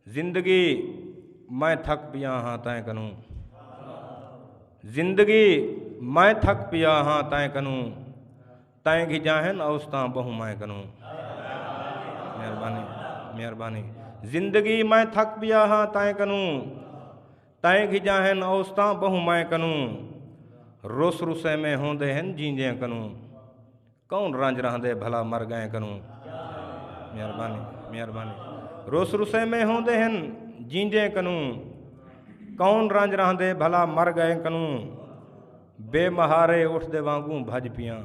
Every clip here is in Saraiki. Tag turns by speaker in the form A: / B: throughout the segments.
A: زندگی میں تھک پیا ہاں تائیں کنوں زندگی میں تھک پیا ہاں تائیں کنوں تائیں گھی جاہن اوستاں بہو میں کنوں مہربانی مہربانی زندگی میں تھک پیا ہاں تائیں کنوں تائیں گھی جاہن اوستاں بہو میں کنوں رس رسے میں ہوندے ہیں جیندے کنوں کون رنج رہندے بھلا مر گئیں کنوں مہربانی مہربانی روس رسے میں ہوندے ہیں جیندے کنوں کون رنج رہندے بھلا مر گئے کنوں بے مہارے اٹھ دے وانگوں بھج پیاں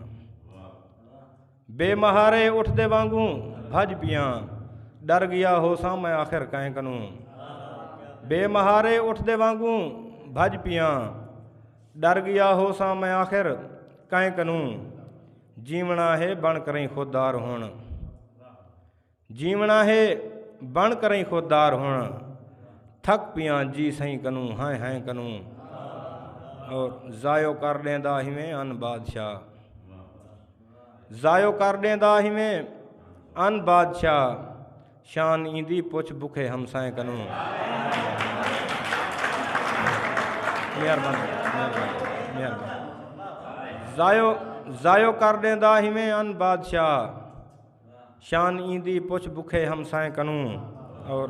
A: بے مہارے اٹھ دے وانگوں بھج پیاں ڈر گیا ہو سا میں آخر کہیں کنوں بے مہارے اٹھ دے وانگوں بھج پیاں ݙر ڳیا ہوساں میں آخر کئیں کنوں جیوݨا ہے بݨ کرئیں خوددار ہݨ جیوݨا ہے بݨ کرئیں خوددار ہݨ تھک پیاں جی سئیں کنوں ہائیں ہائیں کنوں اور ضائع کر ݙیندا ہیویں ان بادشاہ ضائع کر ڈیندا ہیویں ان بادشاہ شان ایندی پچھ بکھے ہمسائیں کنوں ضائع کر ڈیندا ہیویں ان بادشاہ شان ایندی پچھ بکھے ہمسائیں کنوں اور